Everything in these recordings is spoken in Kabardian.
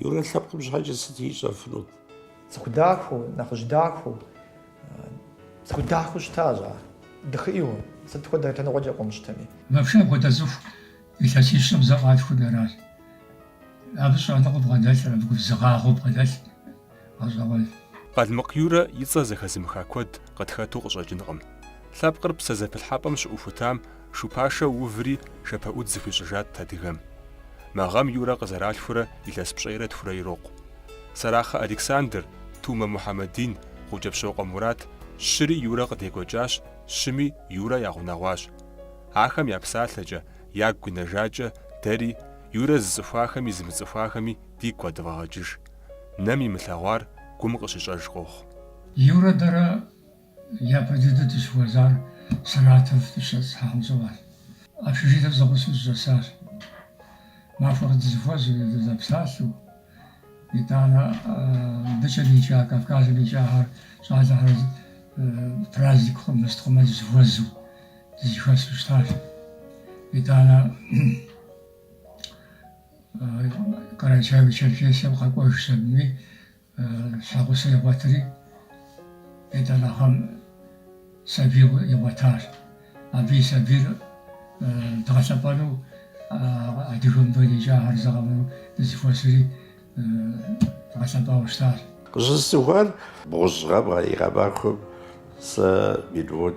Юрэ лъэпкъым щхьэкӏэ сыт ищӏэфынут? Цӏыху дахэу, нэхъыжь дахэу, цӏыху дахэу щытащ ар. Дыхыӏийуэ, сыт хуэдэ лъэныкъуэкӏэ къыумыщтэми. Вообще апхуэдэ цӏыху Илъэсищэм зэ къалъхуу аращ. Абы щӏэныгъэу бгъэдэлъыр, абы губзыгъагъэу бгъэдэлъ гъэщӏэгъуэнщ. Къалмыкъ Юрэ и цӏэ зэхэзымыха куэд къытхэту къыщӏэкӏынкъым. Лъэпкъыр псэзэпылъхьэпӏэм щыӏухутам шу пашэ уври шэпэӏудз зыхуищӏыжат адыгэм. Мы гъэм Юрэ къызэралъхурэ илъэс пщӏейрэ тхурэ ирокъу. Сэрахъэ Александр, Тумэ Мухьэмэдин, Гъукӏэпщокъуэ Мурат, щыри Юрэ къыдекӏуэкӏащ, щыми Юрэ ягъунэгъуащ. Ахэм я псалъэкӏэ, ягу къинэжакӏэ дэри, Юрэ зыцӏыхуахэми зымыцӏыхуахэми дигу къэдывгъэгъэкӏыж. Нэм имылъэгъуар гум къыщищӏэж къохъу. Юрэ дэрэ япэ дыдэ дыщыхуэзар Саратов дыщыщӏэтӏысхьахэм щыгъуэщ. Общежитием зэгъусэу дыщӏэсащ. Махуэ къэс дызэхуэзэу, дызэпсалъэу. Итӏанэ мыбыкӏэ икӏа, Кавказым икӏахэр, щӏалэхэр праздник хъумэ, мыст хъумэ дызэхуэзэу, дызэхуэсу щытащ. Итӏанэ Карачаево-Черкесием къэкӏуэжщ, абыми щхьэгъусэ игъуэтри, итӏанэхэм сабий игъуэтащ. Абы и сабийр дгъэлъэпӏэну адыгэ мыбы икӏахэр зэгъэуну дызыхуэсри дгъэлъэпӏауэ щытащ. Къыщысцӏыхуар бгъущӏ гъэм и гъэмахуэм сэ минут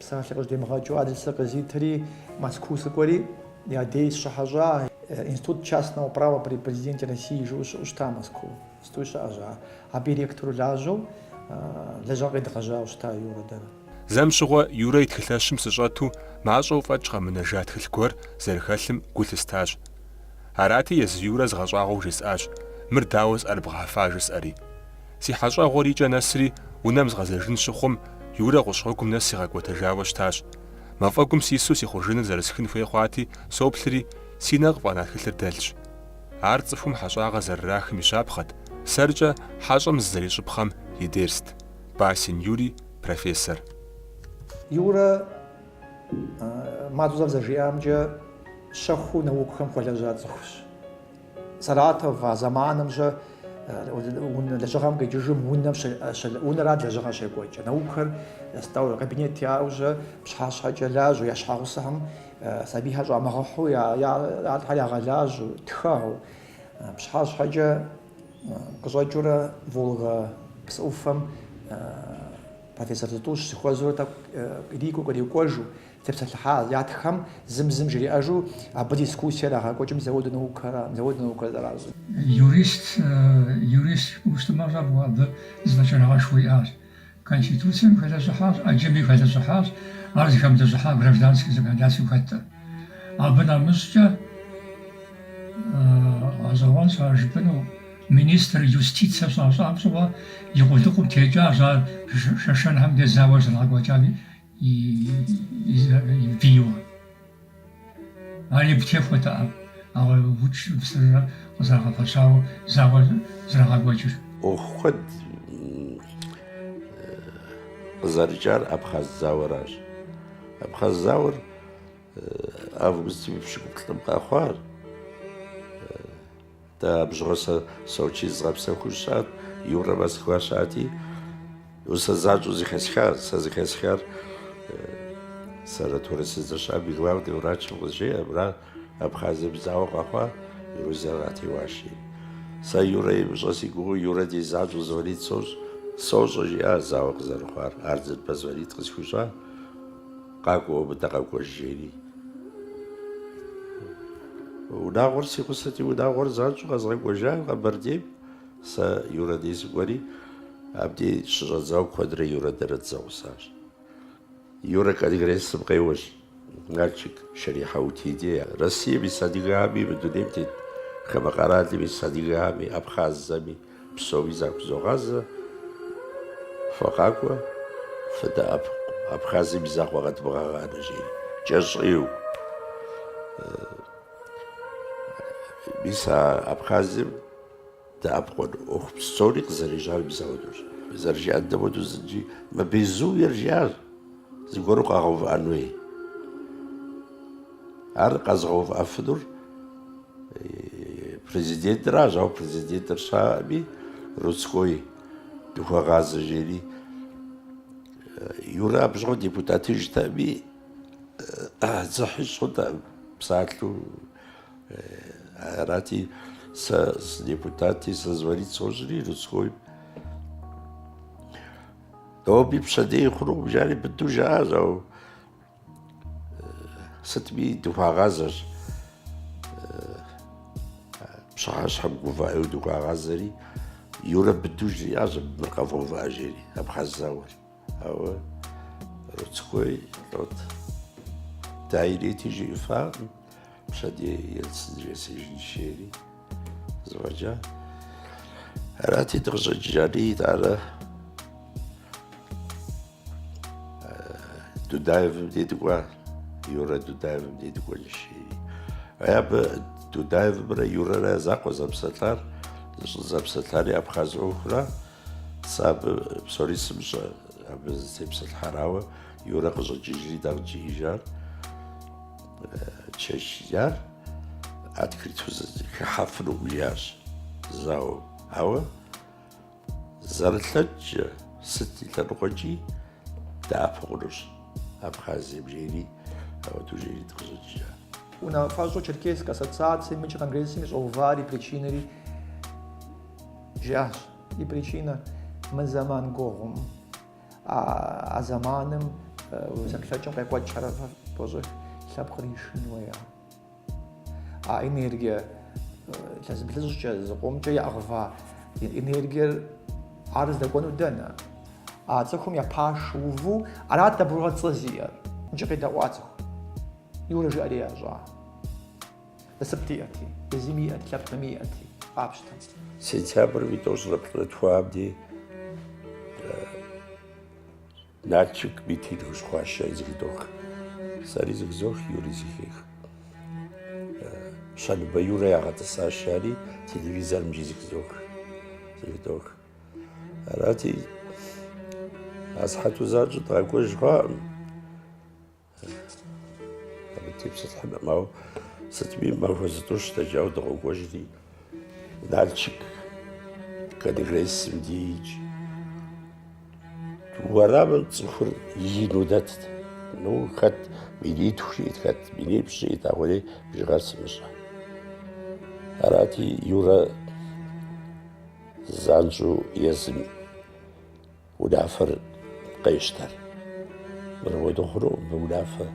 Псалъэ къызжьэдимыгъэкӏыу адресыр къызитри, Москву сыкӏуэри, я дей сыщыхьэщӏа Институт частного права при Президенте России жыӏэу щыӏэу щыта Москву. Иджыпстуи щыӏэщ ар. Абы и ректору лажьэу лэжьыгъэ къедгъэжьауэ щыта Юрэ дэрэ. Зэм щыгъуэ Юрэ и тхылъэщым сыщӏэту мащӏэу фӏэкӏ къэмынэжа тхылъ гуэр зэрыхэлъым гу лъыстащ. Арати, езы Юрэ згъэщӏагъуэу жесӏащ, Мыр дауэ зыӏэрыбгъэхьэфа жысӏэри. Си хьэщӏэгъуэр и кӏэ нэсри унэм згъэзэжын щыхъум, Юрэ гъущӏ гъуэгум нэс сигъэкӏуэтэжауэ щытащ. Мафӏэгум сису си хъужыныр зэрысхын хуей хъуати, соплъри, си нэ къыфӏэна тхылъыр дэлъщ. Ар цӏыхум хьэщӏагъэ зэрырахым и щапхъэт, сэркӏэ хьэщӏэм зызэрищӏыпхъэм и дерст. Басин Юрий, профессор. Юрэ мащӏэу зэрызжиӏамкӏэ, щэхуу наукэхэм хуэлэжьа цӏыхущ. Саратов а зэманымкӏэ лэжьыгъэм къикӏыжым унэрат лэжьыгъэ щекӏуэкӏыр. Наукэр стол, кабинет яӏэу, жэщ, пщыхьэщхьэкӏэ лажьэу, я щхьэгъусэхэм сабийхэр щӏамыгъэхьу, ядэхэр ягъэлажьэу, тхэу. Пщыхьэщхьэкӏэ къыщӏэкӏыурэ Волга псы ӏуфэм профессор зытӏущ, зыхуэзэурэ тӏэкӏу ирикӏуэу, кърикӏуэжу. Тепсэлъыхьа ятхэм зым-зым жриӏэжу абы дискуссие ирагъэкӏуэкӏым, мис ауэдут наукэр зэращӏыр. Юрист, юристу щытмэ щӏэфӏу абы зэфӏэкӏыныгъэшхуэ иӏащ. Конституцием хэлэжьыхьащ, ӏэджэми хэлэжьыхьащ ар зыхэмылэжьыхьа гражданскэ законодательствэм хэткъым. Абы нэмыщӏкӏэ гъэщӏэгъуэнщ ар жыпӏэну, министр юстицэ щащӏам щыгъуэ и къулыкъум текӏащ ар шэшэнхэм дей зауэ зэрагъэкӏуэкӏам и Бийуэ. Ар игу техуэтэкъым, ауэ уч псыррэ къызэрагъэфэщауэ зауэ зэрагъэкӏуэкӏыр. ӏуэху куэд къызэрыкӏар Абхъаз зауэращ. Абхъаз зауэр августым и пщыкӏуплӏым къэхъуар. Дэ абщыгъуэ сэ Сочи зызгъэпсэхуу сыщыӏэт, Юрэ Москва щыӏэти, сэ занщӏэу зыхэсхащ. Сэ зыхэсхар санаторэ сыздэщыӏам и главный врачым къызжеӏэ, мыра Абхазием зауэ къэхъуа Грузиер къатеуа, жи. Сэ Юрэ имыщӏэ си гугъэу Юрэ дей занщӏэу звонить сощӏ, сощӏэ, жиӏащ зауэ къызэрыхъуар, Ардзинбэ звонить къысхуищӏа. Къакӏуэ уэ мыдэ къэкӏуэж, жери. Унагъуэр си гъусэти, унагъуэр занщӏэу къэзгъэкӏуэжа Къэбэрдейм. Сэ Юрэ дей сыкӏуэри, абдей щыщӏэдзауэ куэдрэ Юрэ дэрэ дызэгъусащ. Юрэ конгрессым къеуэщ, Налшык Шэрихьэутиди, Россием ис адыгэхэми, мы дунейм тет хамэ къэралым ис адыгэхэми, абхъазхэми. Псори захузогъазэ, фэ къакӏуэ, фыдэӏэпыкъу, Абхазием и закъуэ къэдывмыгъэгъанэ, жери, кӏэщӏу. Мис а Абхазием дэӏэпыкъун ӏуэху псори къызэрежьар мис ауэдущ. Зэрыжиӏэн дэ моуэдэу зыджи мы безумиер, жиӏащ, зыгуэру къэгъэувыӏэн хуей. Ар къэзыгъэувыӏэфынур президентращ, ауэ президентыр щыӏэкъыми, Руцкой дыхуэгъазэ жери. Юрэ абщыгъуэ депутатыжтэкъыми, дзыхь ищӏтэкъым псалъэу. Арати, сэ сыдепутати, сэ звонить сощӏри Руцкойм. Ноби пщэдеи хъунукъым жари быдэу жаӏащ, ауэ. Сытми дыхуагъазэщ. Пщыхьэщхьэ гувэӏэу дыхуагъазэри, Юрэ быдэу жриӏащ мыр къэвгъэувыӏэ жери, абхъаз зауэр. Ауэ Руцкой, Рот, да и нети жиӏэфакъым, пщэдей Ельцин жесӏэжынщ жери. Зэфӏэкӏа? Арати, дыкъыщӏэкӏыжари, итӏанэ Дудаевым дей дыкӏуа, Юрэ Дудаевым дей дыкӏуэнщ жери, абы Дудаевымрэ Юрэрэ я закъуэ зэпсэлъар, щӏызэпсэлъари абхъаз ӏуэхура, сэ абы псори сымщӏэ, абы зытепсэлъыхьар, ауэ Юрэ къыщӏэкӏыжри дэ къыджиӏэжар. чечняр открыту зэхыхьэфыну жиӏащ зауэ ауэ зэрылъэкӏкӏэ сыт и лъэныкъуэкӏи дэӏэпыкъу хъунущ абхазием жери ауэду жери дыкъыщӏэкӏа унафэщӏу черкесск ассоциацием икӏи конгрессыми щӏэувар и причинэри жиӏащ и причинэ мы зэман гугъум А зэманым зэплъэкӏым къикӏуэт хьэрыфыр тӏощӏых лъэпкъыр ишэн хуея. А энергия илъэс блыщӏкӏэ зыкъомкӏэ яӏыгъва энергиер ар здэкӏуэну дэнэ? А цӏыхум я пашэу уву арат дэ бгъугъэ цӏэ зиӏэр. Икӏи къедэӏуа цӏыху Юрэ жиӏэри ящӏа. Насып диӏэти, езыми иӏэти, лъэпкъми иӏэти, къапщтэ. Сентябрым и тӏощӏрэ плӏырэ тхуам ди Налчик митинг щыхъуащи зыхыдох. Сэри зыхызох, Юри зыхех. Щэныбэ Юрэ ягъэтӏысащ жари телевизорымкӏи зыхызох. Зыхыдох. Арати, асыхьэту занщӏэу дыкъэкӏуэж хъуакъым. Абы тепсэлъыхьынум, ауэ сытми махуэ зытӏущ дэкӏауэ дыкъокӏуэжри. Налчык конгрессым дейкӏэ уэрамым цӏыхур ину дэтт. Ну, хэт минитху жиӏт, хэт минипщӏ жиӏт, ахуэдей бжыгъэр сымыщӏэ. Арати, Юрэ занщӏэу езым Унафэр къещтэр. Мыр уедыгъуру мы унафэ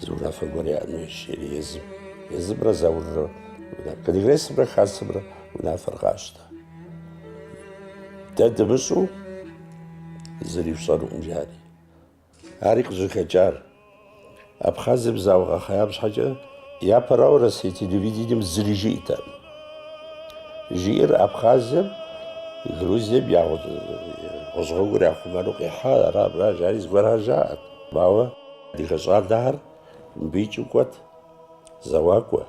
зы унафэ гуэр яӏэн хуейщ жери езым. Езымрэ Зауррэ конгрессымрэ хасэмрэ унафэр къащтэ. Дэ дымыщӏу зыри фщӏэнукъым жари. Ари къыщӏыхэкӏар. Абхъазым зауэ къэхъеям щхьэкӏэ япэрауэ Россие телевидением зыри жиӏэтэкъым. Жиӏэр Абхъазым Грузием я гъущӏ гъуэгур яхъумэну къихьа ара мыра жари зыгуэрхэр жаӏэт. Ауэ адыгэ щӏалэхэр мыбы икӏыу кӏуэт, зэуакӏуэ.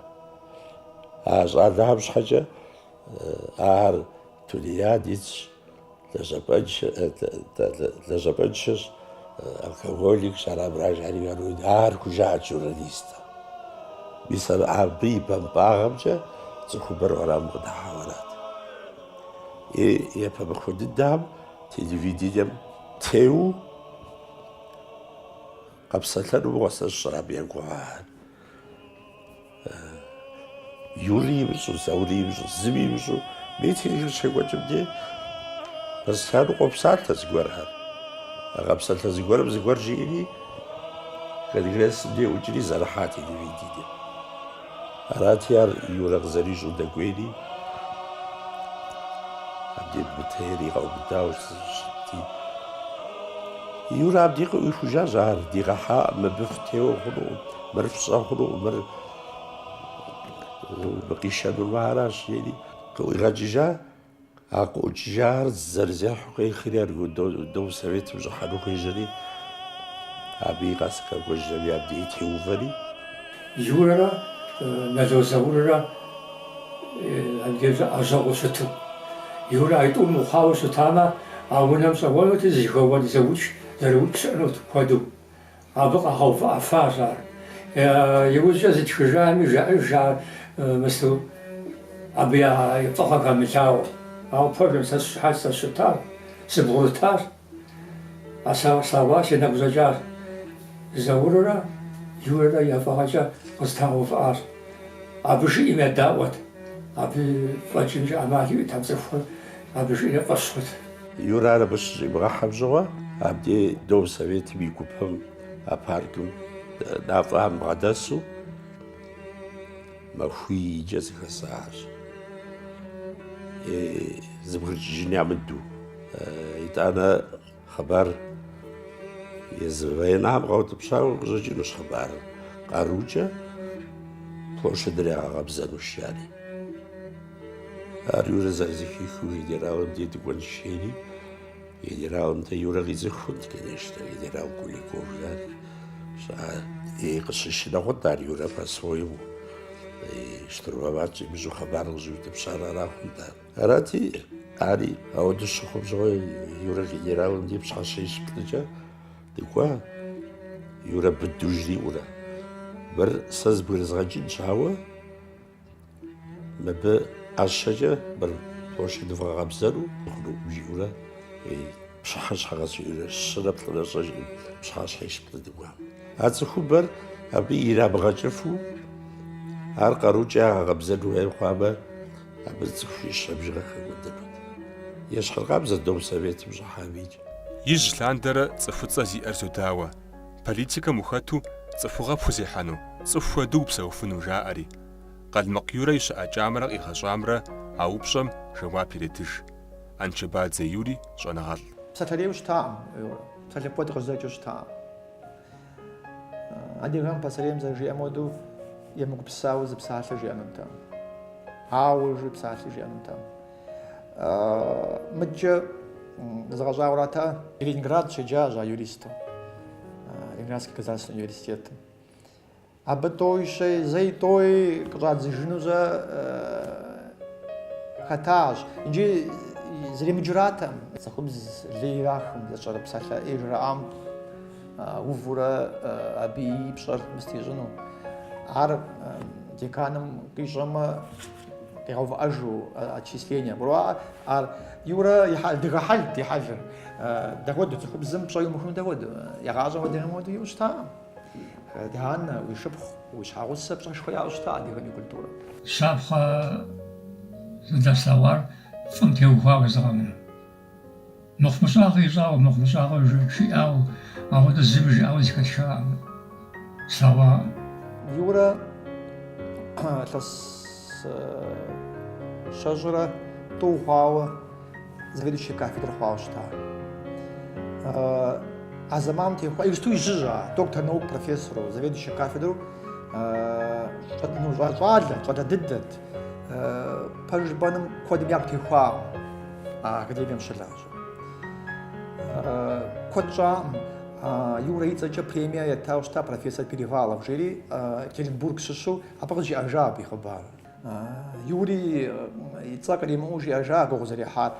А щӏалэхэм щхьэкӏэ ахэр тунеядецщ. Лэжьапӏэншэщ, алкоголикщ, ара мыра жари городик, ар хужаӏэт журналистым. Мис абы и бампӏагъэмкӏэ цӏыхубэр уэрамым къыдыхьауэ арат. И япэ махуэ дыдэхэм телевидением теуэу къэпсэлъэну мыгъуэ, сэ сщӏэрэ абы я гугъахэр. Юри имыщӏу, Заури имыщӏу, зыми имыщӏу митингыр щекӏуэкӏым дей постоянно къопсалъэ зыгуэрхэр. А къэпсэлъэ зыгуэрым зыгуэр жиӏэри Конгрессым дей ӏукӏри зэрыхьа телевидение. Арати, ар Юрэ къызэрищӏу дэкӏуейри, абдей БТР-и къэубыдауэ щытти, Юрэ абдей къыӏуихужащ, ар дигъэхьакъым, мыбы фытеуэ хъунукъым. Мыр фщӏэ хъуну, мыр къишэнур мыращ, жери къыӏуигъэкӏыжа, а къыӏукӏыжар зэрызехьу къехри, аргудэу Советым щӏыхьэну хуежьэри, абы и къэс къэкӏуэжри абдей теувэри. Юрэрэ Нало Зауррэ абдежкӏэ лэжьэгъуу щыту. Юрэ а тӏум мыхъуауэ щытамэ, а унэм щӏэуэнути, зы зэхэуэн, зэукӏ зэрыукӏ щыӏэнут куэду. Абы къагъэувыӏэфащ ар. Иужькӏэ зытхыжами, жаӏэжар мысту абы я фӏыгъэ хэмылъауэ. Ауэ пэжым, сэ сыщыхьэт, сэ сыщытащ, сыбгъурытащ, слъэгъуащ, си нэгу щӏэкӏащ. Зауррэ Юрэрэ я фӏыгъэкӏэ къызэтрагъэувыӏащ. Абы жиӏэм едаӏуэт, абы фӏэкӏынкӏэ ӏэмал иӏэтэкъым, цӏыхухэр. Абы жиӏэ фӏэщ хъут. Юрэ ар абы щыщӏимыгъэхьэм щыгъуэ, абди Дом Советым и гупэм а паркым мафӏэм бгъэдэсу махуийкӏэ зыхэсащ. Зэбгрыкӏыжын ямыду. Итӏанэ Хъыбар езы военнэм къэутӏыпщауэ къыщӏэкӏынущ хъыбарыр. Къарукӏэ площадыр ягъэкъэбзэну жари. Ар Юрэ зэрызэхихыу генералым дей дыкӏуэнщ жери, генералым дей Юрэ къицӏыхунт, конечно, генерал Куликов жари. И къыщыщынэ хъунт ар Юрэ по-своему. Штурмовать щӏимыщӏу хъыбар къыщӏиутӏыпщар ара хъунт ар. Арати, ари апхуэдэу щыхъум щыгъуэ Юрэ генералым деж пщыхьэщхьищ-плӏыкӏэ дыкӏуа, Юрэ быду жриӏэурэ. Мыр сэ збгырызгъэкӏынщ, ауэ мыбы ӏэщэкӏэ мыр площадь вгъэкъэбзэру хъуну, жиӏэурэ пщыхьэщхьэ къэс жиӏэурэ щырэ плӏырэ щӏэжри пщыхьэщхьищ-плӏы дыкӏуа. А цӏыхубэр абы ирамыгъэкӏыфу, ар къарукӏэ ягъэкъэбзэн хуей хъуамэ, Абы цӏыхуищэ бжыгъэ хэкӏуэдэнут. Ещхьыркъабзэ Дом Советым щӏыхьам икӏ. Ижь лъандэрэ цӏыхуцӏэ зиӏэр зодауэ, политикэм ухэту цӏыхугъэ пхузехьэну, цӏыху хуэдэу упсэуфыну, жаӏэри. Къалмыкъ Юрэ и щыӏэкӏамрэ къигъэщӏамрэ а упщӏэм жэуап иретыж. Анчэбадзэ Юри щӏэныгъэлӏ. Псалъэрейуэ щытакъым, псалъэ куэд къызэкӏыу щытакъым. Адыгэхэм пасэрейм зэрыжиӏэм хуэдэу емыгупсысауэ зы псалъэ жиӏэнутэкъым. Ауэ жи псалъи жиӏэнутэкъым. Мыдкӏэ згъэщӏагъуэрати Ленинград щеджащ а юристым. Ленинградский государственный университетым. Абы тӏэуи щэи, зэи тӏэуи къыщӏадзыжыну щыхэтащ. Иджы зэремыджэратэкъым. Цӏыхубз лей ирахым, зэщӏэрыпсалъэ ӏей жраӏам. увурэ абы и пщӏэр мыстищӏыну. Ар деканым къищӏэмэ, къигъэувыӏэжу отчисление. Гурыӏуа, ар Юрэ адыгэ хьэлт и хьэлыр. Дапхуэдэу цӏыхубзым пщӏэ иумыхуну дапхуэдэу? Игъащӏэм хуэдэхэм хуэдэу иӏэу щытакъым. Ди анэ, уи шыпхъу, уи щхьэгъусэ пщӏэшхуэ яӏэу щытакъэ адыгэм и культурэм? Щапхъэ зыдэслъэгъуар фӏым теухуауэ зыгъэныр. Мыхъумыщӏагъэ ищӏауэ, мыхъумыщӏагъэ жиӏауэ, апхуэдэ зыми жиӏауэ зэхэтхакъым. Слъэгъуакъым. Юрэ илъэс щэщӏрэ тӏу хъуауэ заведующий кафедрэ хъуауэ щыта. А зэманым техуа, иджыпсту ижьыжь ар, доктор наук профессору, заведующий кафедру щӏэтыну щӏалэ, щӏалэ дыдэт. пэж жыпӏэнум куэдым ягу техуакъым а академием щылажьэ. Куэд щӏакъым Юрэ и цӏэкӏэ премие ятауэ щыта профессор Перевалов жери Екатеринбург щыщу абы къызжиӏэжа абы и хъыбар. Юри и цӏэ къримыӏуэу жиӏэжа гугъу зэрехьар.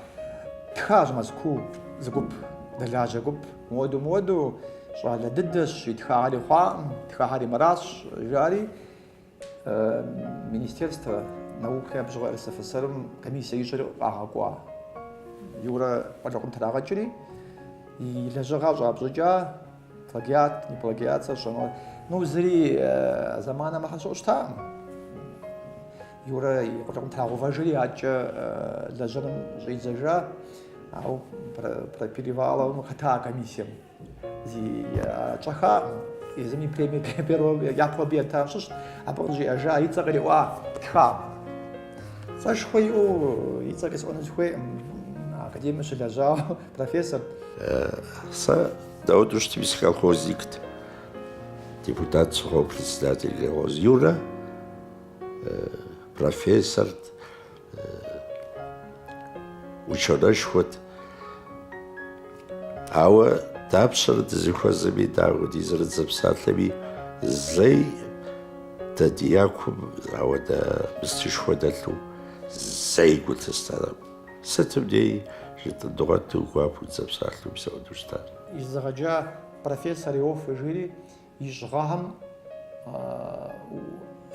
Тхащ Мэзкуу зы гуп, дэлажьэ гуп. Муэду муэду щӏалэ дыдэщ, итхахэри хъуакъым, итхахэри мыращ, жари. Министерство науки абщыгъуэ РСФСР-м комиссие ищӏри къагъэкӏуа. Юрэ къулыкъум трагъэкӏри, и лэжьыгъэр щӏапщытыкӏа, плагиат, не плагиат, сэ сщӏэнур. Ну, зыри зэманэ мыхьэнэ щыӏэу щытаӏым. Юрэ и къулыкъум трагъэувэжри, адэкӏэ лэжьыгъэм щӏидзэжа, ауэ про, Переваловым хэта комиссием. Зи щӏэхакъым. Езым и премие первом япэу абы етам щыщ, абы къызжиӏэжа и цӏэ къриӏуа тхакъым. Цӏэшхуэ иӏэу и цӏэ къисӏуэну сыхуейкъым, академием щылэжьауэ профессор. Сэ дауду щытми сыколхозникт. Депутат сыхъуауэ председатель колхоз Юрэ профессорт. Ученэшхуэт. Ауэ дапщэрэ дызэхуэзэми, дауэ ди зэры, дызэпсалъэми зэи дэ ди якум ауэдэ местэшхуэ дэлъу зэи гу лъыстэрэм. Сытым дей жытӏын дгъуэту гуапэу дызэпсалъэу псэуху щытар. Езыгъэджа профессор Иоффе жири и щӏыгъэхэм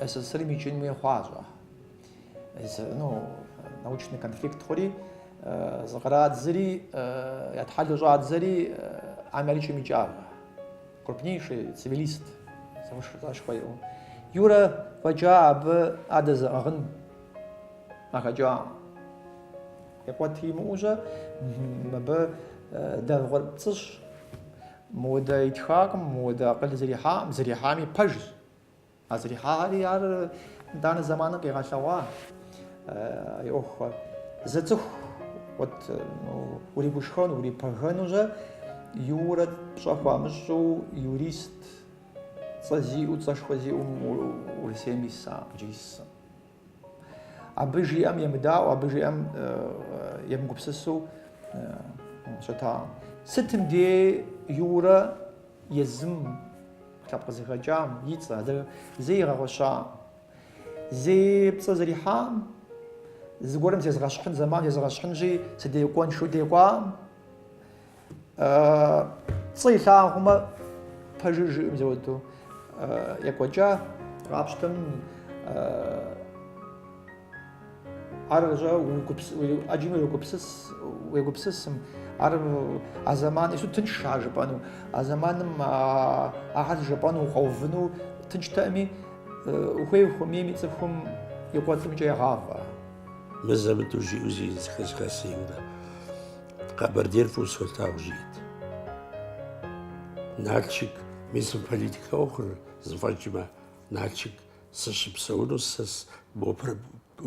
СССР-м икӏын хуей хъуащ ахэр. Ну, научный конфликт хъури, зыкърадзэри, ятхьэлу щӏадзэри Америкэм икӏагъэ. Крупнейший цивилист, цӏэшхуэ иӏэу. Юрэ фӏэкӏа абы адэ зыӏыгъын къахэкӏа. Икӏуэт имыӏэу-жьэ, мыбы дэвгъуэр пцӏыщ. Мыудэ итхакъым, мыудэ акъыл зэрихьакъым, зэрихьами пэжщ. А зэрихьари ар итӏанэ зэманым къигъэлъэгъуа и ӏуэхухэр. Зы цӏыху вот уригушхуэну, урипэгэну-жьэ Юрэ пщӏэ хуамыщӏу юрист цӏэ зиӏэу, цӏэшхуэ зиӏэу Урысейм исам, иджы исым. Абы жиӏэм емыдаӏуэу, абы жиӏэм емыгупсысу щытакъым. Сытым дей Юрэ езым лъэпкъ къызыхэкӏам и цӏэ зэи игъэгъуэщакъым. Зэи пцӏы зэрихьакъым, зыгуэрым зезгъэщхьын, зэман зезгъэщхьынщи, сыдекӏуэнщ жиӏэу декӏуакъым. Пцӏы илъагъу хъумэ пэжыр жиӏэм зэуэдэу екӏуэкӏа къапщтэм ар жа ӏэджи уегупсыс уегупсысым ар а зэман ису тыншщ ар жыпӏэну а зэманым ахэр жыпӏэну укъэувыну тынштэкъыми ухуей ухуэмейми цӏыхум и кӏуэцӏымкӏэ егъавэ мызэ-мытӏэу жиӏэу зэхэсха сэ Юрэ Къэбэрдейр фӏыуэ солъагъу жиӏэт. Налшык мис мы политикэ ӏуэхур зыфӏэкӏмэ, Налшык сыщыпсэуну сэ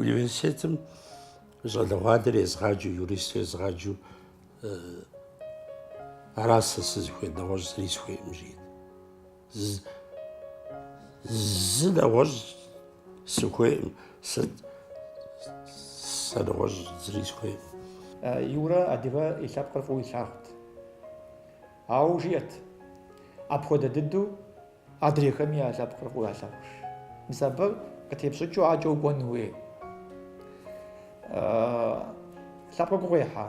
университетым щӏалэгъуалэр езгъаджэу, юристу езгъаджэу ара сэ сызыхуейр, нэгъуэщӏ зыри сыхуейкъым жиӏэт. Зы нэгъуэщӏ сыхуейкъым, сыт сэ нэгъуэщӏ зыри сыхуейкъым. Юрэ адыгэ и лъэпкъыр фӏыуэ илъагъут. Ауэ жиӏэт, апхуэдэ дыдэу адрейхэми я лъэпкъыр фӏыуэ ялъагъу. Мис абы къытепщӏыкӏыу адэкӏэ укӏуэн хуей. Лъэпкъыр гугъу ехьа,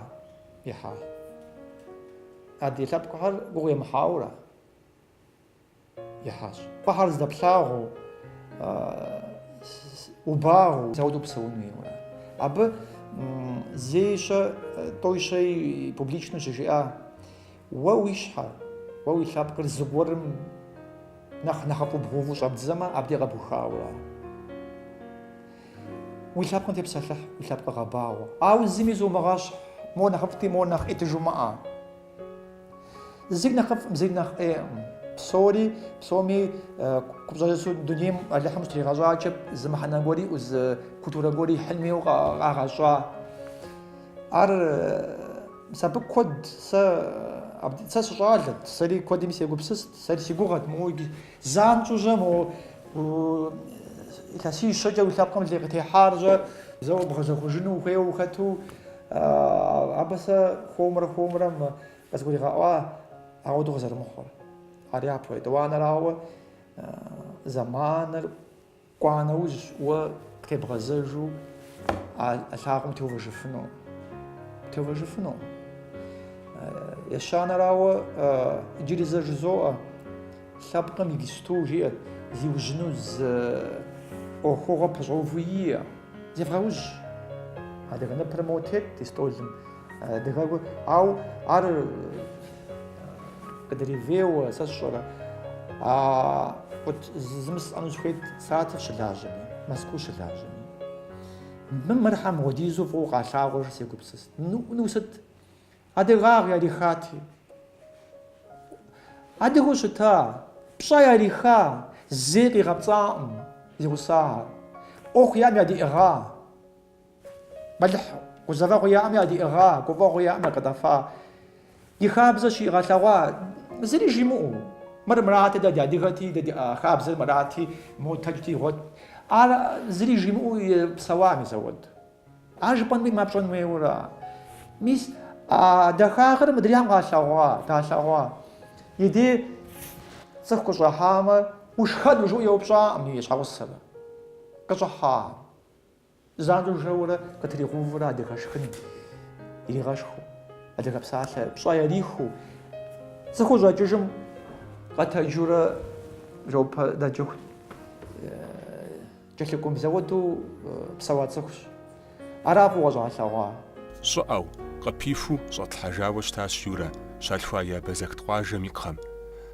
ехьа. Адрей лъэпкъхэр гугъу емыхьауэ ара? ехьащ. Гугъуехьыр здэплъагъуу, убагъуу. Зэхуэдэу псэун хуейуэ. Абы зейщэ, тӏойщэи публичну щыжиӏа, Уэ уи щхьэр, уэ уи лъэпкъыр зыгуэрым нэхъ нэхъыфӏу бгъэуву щӏэбдзэмэ, абдей къэбухауэ ара. Уи лъэпкъым тепсэлъыхь, уи лъэпкъыр гъэбагъуэ. Ауэ зыми зумыгъэщхь, мо нэхъыфӏти, мо нэхъ ӏейти жумыӏэ. Зыр нэхъыфӏкъым, зыр нэхъ ӏейкъым. Псори, псоми купщӏэжыщу дунейм Алыхьым щытригъэщӏакӏэ, зы мыхьэнэ гуэр иӏэу, зы культурэ гуэр ихьын хуейуэ къагъэщӏа. Ар мис абы куэд сэ, сэ сыщӏалэт, сэри куэдым сегупсыст, сэри си гугъэт моуэ Занщӏэу-жьэ мо илъэсищэкӏэ уи лъэпкъым лей къытехьар жьэ, зэуэ бгъэзэхуэжыну ухуейуэ ухэту, абы сэ хуэмурэ хуэмурэ къызгуригъэӏуа ауэдэу къызэрымыхъур. Ар япэу, етӏуанэрауэ, зэманыр. Кӏуа нэужь, уэ тебгъэзэжу а лъагъуэм теувэжыфыну. Теувэжыфыну. Ещанэрауэ иджыри зэ жызоӏэ, лъэпкъым игисту жиӏэт, зиужьыну зы ӏуэхугъуэ пэщӏэуву иӏэ, зевгъэужь. Адыгэ ныпыр моуэ тет ди стӏолым. Адыгэ, ауэ ар Къыдревейуэ, сэ сщӏэрэ. А вот зы жысӏэну сыхуейт Саратов щылажьэми, Мэзкуу щылажьэми. Мы мыр щхьэ мыпхуэдизу фӏыуэ къалъагъурэ сегупсыст. Ну сыт? Адыгагъ ярихати. Адыгэу щыта, пщӏэ яриха, зэи къигъэпцӏакъым, зи гъусахэр. ӏуэху яӏэм ядиӏыгъа? Мэлыхь гузэвэгъуи яӏэм ядиӏыгъа, гуфӏэгъуи яӏэм якъыдэфа, и хабзэр щигъэлъэгъуа, зыри жимыӏэу. Мыр мырати, дэ ди адыгэти, дэ ди хабзэр мырати, мотэджти игъуэт. Ар зыри жимыӏэу псэуам и зауэд. Ар жыпӏэнуи мапщӏэн хуейуэра? Мис а дахагъыр мыдрейм къалъэгъуа, далъэгъуа. И дей цӏыху къыщӏыхьамэ, ушхэну жиӏэу еупщӏакъым и щхьэгъусэр. Къыщӏыхьа? Занщӏэу жэурэ къытригъэувурэ адыгэ шхын иригъэшхыу, адыгэ псалъэ пщӏэ ярихыу, цӏыхур щӏэкӏыжым къэтэджурэ бжэӏупэ дэкӏыху кӏэлъыкӏум зэуэдэу псэуа цӏыхущ. Ара фӏыуэ къыщӏалъэгъуа? Щӏыӏэу, къыпихуу щӏэтлъхьэжауэ щытащ Юрэ щалъхуа Абазэкт къуажэм и кхъэм.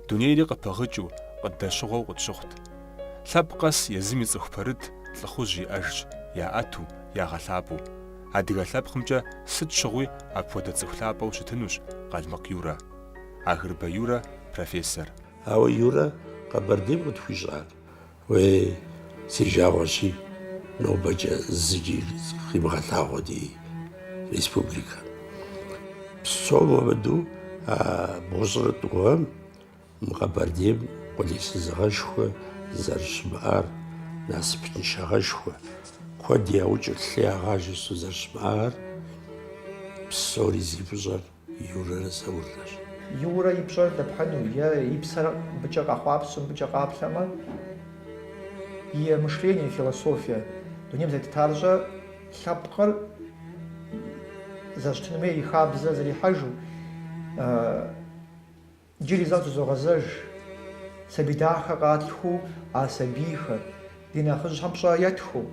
Дунейри къыпыгъыкӏыу, къыддэщыгъуэу къытщыхъут. Лъэпкъ къэс езым и цӏыху пэрыт лӏыхъужь иӏэжщ, яӏэту, ягъэлъапӏэу. Адыгэ лъэпкъымкӏэ сыт щыгъуи апхуэдэ цӏыху лъапӏэу щытынущ Къалмыкъ Юрэ. Агъырбэ Юрэ, профессор. Ауэ, Юрэ, Къэбэрдейм къытхуищӏар? Уей, си жагъуэщи, нобэкӏэ зыкӏи къимыгъэлъагъуэ ди республикэм. Псом хуэмыдэу а бгъущӏрэ тӏу гъэм Мы къэбэрдейм къулейсызыгъэшхуэ зэрыщымыӏар, насыпыншагъэшхуэ, куэд яукӏыр, лъы ягъажэ щӏы зэрыщымыӏар, псори зи фӏыщӏэр Юрэрэ Зауррэщ. Юрэ и пщӏэр дэпхьыну е и псэр мыбыкӏэ къэхъуапсэм, мыбыкӏэ къаплъэмэ, и мышление, и философие, дунейм зэрытетар щӏэ лъэпкъыр зэрыщытын хуей и хабзэ зэрихьэжу, Иджыри зэ къытызогъэзэж, сабий дахэ къалъхуу а сабийхэр, ди нэхъыжьхэм пщӏэ етхыу,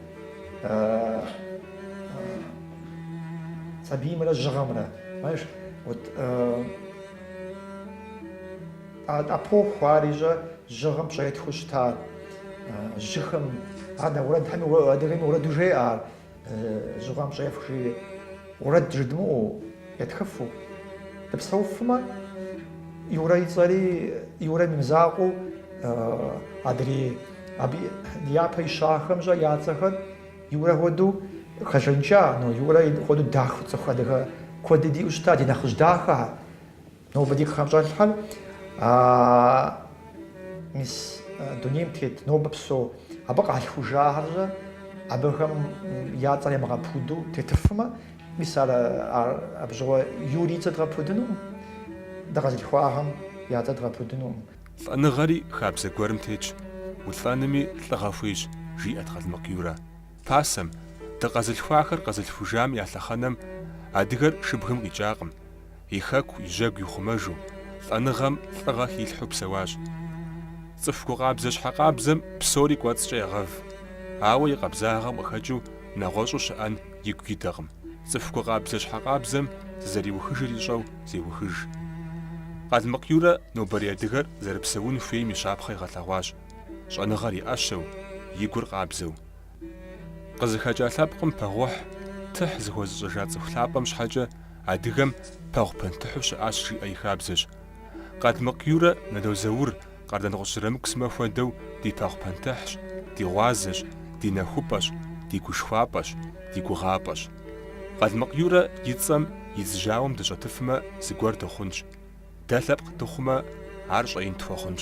сабиймрэ жьыгъэмрэ. Знаешь, вот эпоху ар ищӏэ жьыгъэм пщӏэ етхыу щытар, жьыхэм, ар нэ уэрэдхэми, адыгэми уэрэду жеӏэ ар. Жьыгъэм пщӏэ ефх, жери, уэрэд жыдмыӏэу, етхыфу. Дыпсэуфмэ, Юрэ и цӏэри Юрэм и мызакъуэу адрей, абы и япэ ищахэм щӏэ я цӏэхэр Юрэ хуэдэу хэжаныкӏа, но Юрэ хуэдэу дахэ цӏыху адыгэ куэди диӏэу щыта, ди нэхъыжь дахэхэр. Нобэ ди кхъэм щӏэлъхэр а мис дунейм тет нобэ псэу абы къалъхужахэр-щэ абыхэм я цӏэр емыгъэпуду тетыфмэ, мис абы щыгъуэ Юрэ и цӏэ дгъэпудынукъым, дыкъэзылъхуахэм я цӏэ дгъэпудынукъым. Лӏэныгъэри хабзэ гуэрым тетщ, улӏэнми лӏыгъэ хуейщ, жиӏэт Къалмыкъ Юрэ. Пасэм, дыкъэзылъхуахэр къэзылъхужам я лъэхъэнэм адыгэр шыбгым къикӏакъым. и хэку, и жьэгу ихъумэжу, лӏэныгъэм лӏыгъэ хилъхьу псэуащ. Цӏыху гукъабзэ щхьэкъабзэм псори кӏуэцӏкӏэ егъэв. Ауэ и къабзагъэм къыхэкӏыу нэгъуэщӏу щыӏэн игу идэкъым, цӏыху гукъабзэ щхьэкъабзэм зызэриухыжыр ищӏэу зеухыж. Къалмыкъ Юрэ нобэрей адыгэр зэрыпсэун хуейм и щапхъэ игъэлъэгъуащ, щӏэныгъэр и ӏэщэу, и гур къабзэу, Къызыхэкӏа лъэпкъым пэгъухь тыхь зыхуэзыщӏэжа цӏыху лъапӏэм щхьэкӏэ адыгэм пэгъу пэнтыхьу щыӏащ жиӏэ и хабзэщ. Къалмыкъ Юрэ Нало Заур Къардэнгъущӏ Зырамыку сымэ хуэдэу ди пэгъу пэнтыхьщ, ди гъуазэщ, ди нэхупӏэщ, ди гушхуапӏэщ, ди гугъапӏэщ. Къалмыкъ Юрэ и цӏэм идз жьауэм дыщӏэтыфмэ, зыгуэр дыхъунщ. Дэ лъэпкъ дыхъумэ, ар щӏэин тхуэхъунщ.